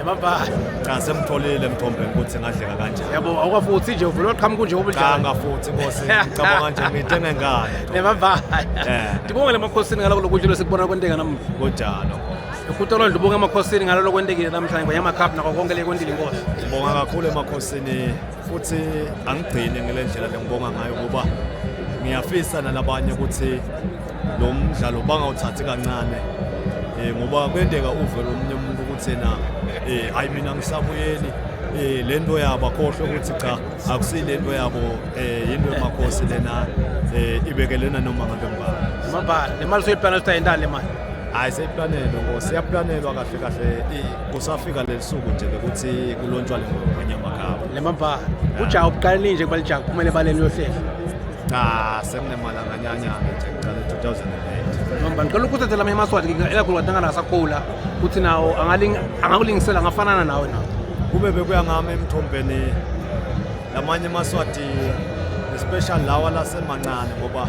Emabala. Cha semtholile mthombe ukuthi ngadleka kanjani. Yabo awukafuthi nje uvula uqhamuka nje ubudlala. Cha ngafuthi Nkosi ngicabanga nje ngithenge ngane. Emabala. Eh. Ngibonge lemakhosini ngaloko lokudla losikubona kwenteka namuhla. Kunjalo. Ukhutolo ndlu ubonga emakhosini ngalolo kwentekile namhlanje ngoyama cup nako konke le kwendile inkosi. Ngibonga kakhulu emakhosini futhi angigcini ngile ndlela lengibonga ngayo ngoba ngiyafisa nalabanye ukuthi lo mdlalo bangawuthathi kancane um ngoba kwenteka uve lomunye umuntu ukuthi yena um hhayi mina ngisabuyeli eh lento yabo akhohle ukuthi cha akusiyilento yabo eh into emakhosi lena eh ibekelena noma ngabe ngibani mabhala le mali soyiplana ukuthi ayindali le mali hayi seyiplanelwe ngo siyaplanelwa kahle kahle kusafika leli suku nje lokuthi kulontshwa le ngoma kanyamagaba le mambhala ujaha ubuqalile nje kuba lijaha kuphumele ebaleni uyohlehla cha sekunemalanganyanyana nje kuqale 2008 noma ngicela ukuthathela amanye amaswati elakhulu wadangana asakhula ukuthi nawo angakulingisela ngafanana nawe nawo kube bekuya ngami emthombeni lamanye amaswati especially lawa lasemancane ngoba